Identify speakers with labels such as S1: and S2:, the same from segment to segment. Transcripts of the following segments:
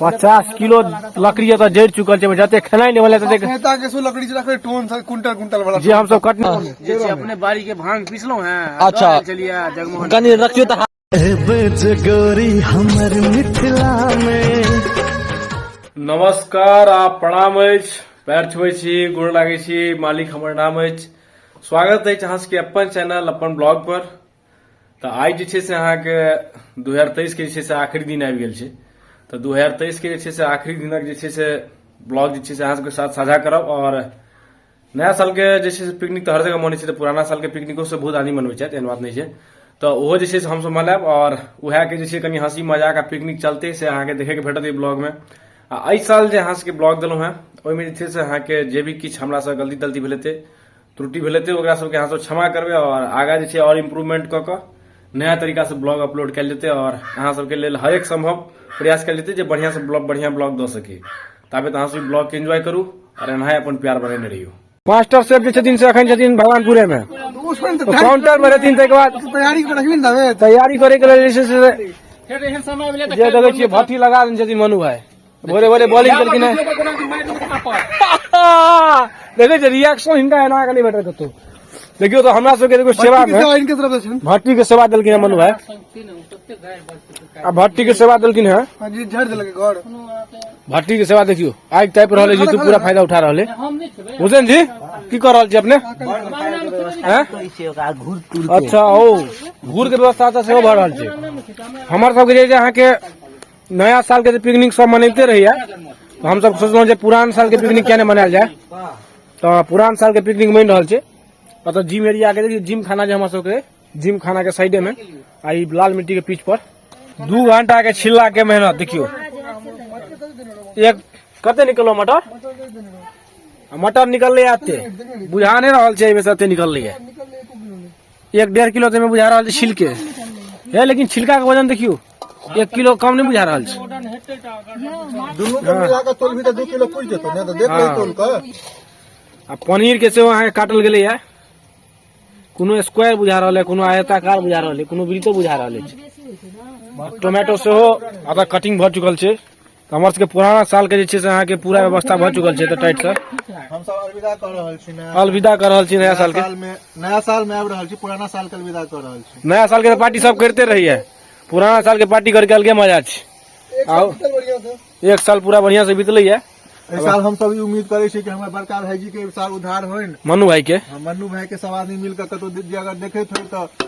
S1: पचास किलो
S2: लकड़ी एतऽ जरि चुकल छै जते खेनाइ नहि भेलै तते नेता के सो लकड़ी
S1: रखे टोन से कुंटल कुंटल वाला जे हमसब कटने
S2: जे छै अपने बाड़ी
S3: के भांग पीसलहुं हैं अच्छा चलिए
S2: जगमोहन
S3: कनी रखियो त
S2: बच
S4: गोरी हमर मिथिला मे
S2: नमस्कार आ प्रणाम अछि पैर छुबै छी गोड़ लागै छी मालिक हमर नाम अछि स्वागत अछि अहाँ सबके अपन चैनल अपन ब्लॉग पर तऽ आइ जे छै से अहाँके दू हजार तेइसके जे छै से आखिरी दिन आबि गेल छै तऽ दू हजार तेइसके जे छै से आखिरी दिनक जे छै से ब्लॉग जे छै से अहाँसभके साथ साझा करब आओर नया सालके जे छै से पिकनिक तऽ हर जगह मनै छै तऽ पुराना सालके पिकनिकोसँ बहुत आदमी मनबै छथि एहन बात नहि छै तऽ ओहो जे छै से हमसभ मनायब आओर उएहके जे छै कनि हँसी मजाक आ पिकनिक चलतै से अहाँके देखैके भेटत एहि ब्लॉगमे आ एहि साल जे अहाँसभके ब्लॉग देलहुँ हेँ ओहिमे जे छै से अहाँके जे भी किछु हमरासँ गलती तलती भेल हेतै त्रुटि भेलै तऽ ओकरा सबके अहाँ सब क्षमा करबै आओर आगाँ जे छै आओर इम्प्रूवमेंट कऽ कऽ नया तरीकासँ ब्लॉग अपलोड कयल जेतै आओर अहाँ सबके लेल हरेक सम्भव प्रयास कयल जेतै जे बढ़िआँसँ ब्लॉग बढ़िआँ ब्लॉग दऽ सकी ताबे अहाँ सब ब्लॉगके एन्जॉय करू आओर एनाहे अपन प्यार बनेने रहियौ मास्टर सेफ जे छथिन से अखन छथिन भगवानपुरेमे काउंटरमे रहथिन ताहिके बाद तैयारी करैके लेल जे देखै छियै भट्टी लगा देने छथिन मनु भाई भोरे भोरे बॉलिंग केलखिन हेँ देखै छै रिएक्शन हिनका एना के नहि भेटत कतहु देखियौ तऽ हमरा सबके एगो सेवा मे इनके तरफ से छनि भट्टी के सेवा देलखिन हेँ मनु भाई आ भट्टी के सेवा देलखिन हेँ हाँ जी झाड़ देलक घर भट्टी के सेवा देखियो आगि तापि रहल अछि जीतू पूरा फायदा उठा रहल है हुसैन जी की कर रहल छी अपने हैं? अच्छा ओ घूर के व्यवस्था तऽ सेहो भऽ रहल छै हमर सबके जे छै अहाँके नया साल के जे पिकनिक सब मनैते रहैया तऽ हमसब सोचलहुँ जे पुरान साल के पिकनिक किया नहि मनायल जाय तऽ पुरान साल के पिकनिक बनि रहल छै ओतऽ जिम एरिया के देखियौ जिम खाना जे हमर सबके अइ, जिम खाना के साइडे में आ ई लाल मिट्टी के पीच पर दू घंटा के छिल्ला के मेहनत देखियौ एक कते निकलो मटर आ मटर निकललै आते बुझा नहि रहल छै एहिमे से एते निकललै है एक डेढ़ किलो तऽ बुझा रहल छै छिलके हे लेकिन छिलका के वजन देखियो एक किलो कम नहीं बुझा रहा छै दुनू के मिला के तोलबी तऽ दू किलो पुरि जेतौ ने तऽ देख ले तोल के आ पनीर के सेहो अहाँके काटल गेलै है कोनो स्क्वायर बुझा रहल है कोनो आयताकार बुझा रहल है कोनो वृत्तो बुझा रहल है टोमेटो सेहो अतः कटिंग भऽ चुकल छै तऽ हमर सबके पुराना सालके जे छै से अहाँके पूरा व्यवस्था भऽ चुकल छै तऽ टाइट सर हम सब अलविदा
S1: कऽ रहल छी नया अलविदा कऽ रहल छी नया
S2: सालके साल में नया साल में आबि
S1: रहल छी पुराना साल के अलविदा कऽ रहल छी नया सालके तऽ पार्टी सब
S2: करिते रहिए पुराना सालके पार्टी करके अलगे मजा छै आउ एक साल पूरा बढ़िआँ से बितलैए एहि साल हम सब ई
S1: उम्मीद करै छी कि हमर बड़का भाईजी के एहि साल उद्धार होइन मनु भाइके हम
S2: मन्नू भाई के सब आदमी
S1: मिलकर कतौ दि- अगर देखैत होइ तऽ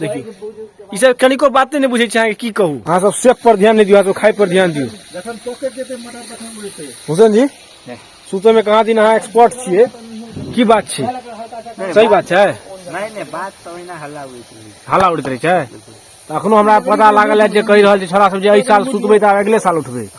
S2: देखियौ ई सब कनिको बाते नहि बुझै छै अहाँके की कहू अहाँ सब सेफ पर ध्यान नहि दियौ अहाँ सब खाय पर ध्यान दियौ जखन पॉकेट जेतै मटर तखन उड़तै हुसैन जी सुतय में कहाँ दिन अहाँ एक्सपर्ट छियै की बात छै सही बात छै नहीं नहीं बात तो
S3: ना हल्ला हुई थी हल्ला
S2: उड़ैत रहै छै तऽ अखनो हमरा पता लागल है जे कहि रहल छै छोरा सब जे एहि साल सुतबै तऽ अगिले साल उठबै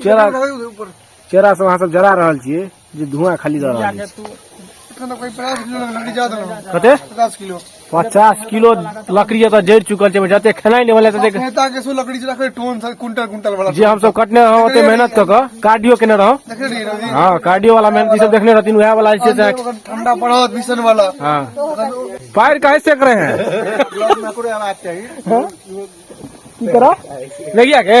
S2: चेहरा चेहरा सब अहाँ सब जरा रहल छियै जे धुआं खाली दऽ रहल छै तू इतना
S1: तो कोई पचास किलो
S2: लकड़ी
S1: ज्यादा ना कते पचास किलो
S2: पचास किलो लकड़ी एतऽ जरि चुकल छै ओहिमे जते खेनाइ नहि भेलै तते नेता के सो लकड़ी चला के
S1: टोन से कुंटल कुंटल वाला जे हमसब कटने रहौं
S2: ओते मेहनत कऽ कऽ कार्डियो केने रहौं देखे नहीं रही हँ
S1: कार्डियो वाला मेहनत
S2: ई सब देखने रहथिन उएह वाला जे छै से अगर ठंडा पड़ा हो
S1: मिशन वाला हाँ
S2: पैर काहे सेक रहे
S1: हैं
S2: की करा नहीं किया के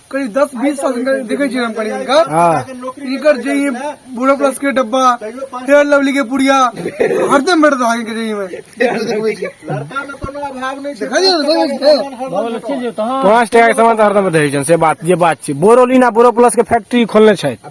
S1: करीब दस बीस साल देखे छी हम करीब इनका हाँ। इनकर
S2: जे ये
S1: बूढ़ा प्लस के डब्बा फेयर लवली के पुड़िया हरदम बैठता आगे के जे में लड़का में कोनो अभाव नहीं देखा दिया पाँच
S2: टाका के सामान तऽ हरदम रहै छनि से बात जे बात छै बोरोलिना बोरो प्लस के फैक्ट्री खोलने छथि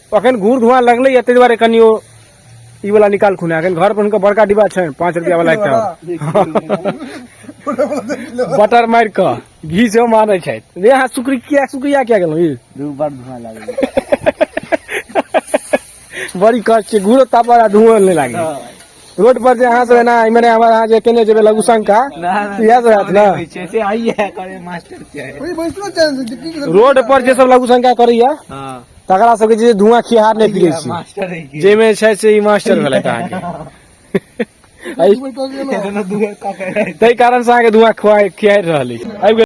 S2: अखन घूर धुआं लगले या ताहि दुआरे कनियो ई वाला निकाल खुना अखन घर पर हुनका बड़का डिब्बा छनि पाँच रुपया वाला एकटा बटर मारि कऽ घी सेहो मानै छथि रे अहाँ शुक्र किया शुक्रिया किया गेलहुँ ई दू बार धुआं
S3: लागल
S2: बड़ी कष्ट छै घूरो तापर आ धुआं नहि लागे रोड पर जे अहाँ सब एना इम्हरे हमर अहाँ जे केने जेबै लघुशंका इएह सब हैत ने छै से आइए करे मास्टर छै
S3: ओही बैसलो छै से
S1: की करतै? रोड पर जे
S2: सब लघुशंका करैया हां तकरा
S3: सबके जे
S2: धुआं खिहार नहि फिरै छी मास्टर है की जाहिमे
S3: छै से ई मास्टर
S2: भेलथि अहाँके एहि- बैठल छै ने। कोनो दूर का करे ताहि कारण से अहाँके धुआं खुआ खिहारि रहल अछि आबि गेल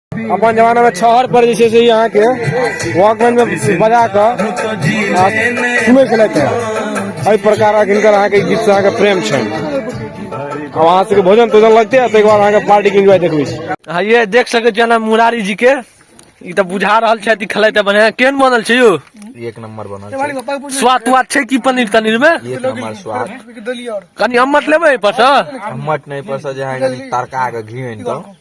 S2: अपन जमाना में छहर पर जे छै से यहाँ के वॉकमैन में बजा कऽ आ सुनै छलथि हेँ। एहि प्रकारक हिनकर अहाँके ई गीतसँ अहाँके प्रेम छनि अब अहाँ सबके भोजन तोजन लगते है ताहिके बाद अहाँके पार्टी के एंजॉय देखबै छी हाँ ये देख सके छियै ना मुरारी जी के ई तऽ बुझा रहल छथि खेलैत तऽ बढ़िया केहन बनल छै यौ एक नंबर बनल
S5: छै स्वाद तुआद छै की
S2: पनीर तनीर में एक नंबर स्वाद
S5: कनी
S2: अम्मट लेबै एहिपर सँ मट नहीं पड़ता
S5: जहाँ तरका के घी आनि कऽ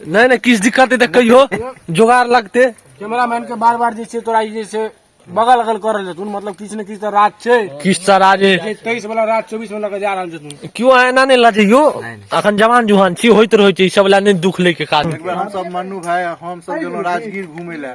S5: नहि नहि किछु दिक्कत
S2: हेतै कहियो जोगाड़ लगतै कैमरा मैन के बार
S3: बार जे छै तोरा ई जे छै बगल अगल कर रहल छथुन मतलब किछु ने किछु तऽ राज छै किछु तऽ राज छै
S2: तेईस वाला राज चौबीस
S3: वाला के जा रहल छथुन क्यों अहाँ एना नहि लजैयो
S2: अखन जवान जुहान छी होइत रहै छै ई सब लए नहि दुख लै के काज एक बेर हमसब मन्नू भाई
S1: हमसब गेलहुँ राजगीर घूमे लए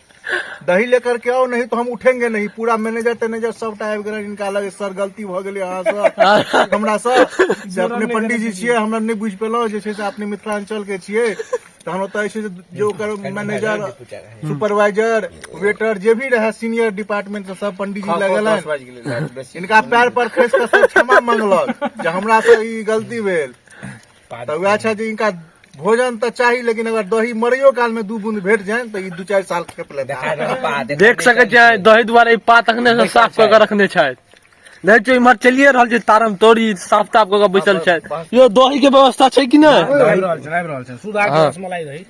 S1: दही लेकर के आओ नहीं तो हम उठेंगे नहीं पूरा मैनेजर तैनेजर सब टाइप गेल इनका लगे सर गलती भ गेलै अहाँ से हमरा से जे अपने पंडित जी छियै हमरा नहि बुझि पेलहुँ जे छै से अपने मिथिलांचल के छियै तऽ हम ओतऽ छै जे ओकर मैनेजर सुपरवाइजर वेटर जे भी रहै सीनियर डिपार्टमेंट से सब पंडित जी लगेलनि इनका पैर पर खसि कऽ सब क्षमा मंगलक जे हमरा से ई गलती भेल तऽ वएह छै जे इनका भोजन तऽ चाही लेकिन अगर दही मरैयो काल में दू बूंद भेट जाए तऽ ई दू चारि साल खेप ले देख सकै छियै
S3: दही दुआरे ई पात अखने से साफ कऽ के रखने छथि देखै छियै इम्हर चलिए रहल छै तारम तोरी साफ ताफ कऽ के बैसल छथि यो दही के व्यवस्था छै कि नहि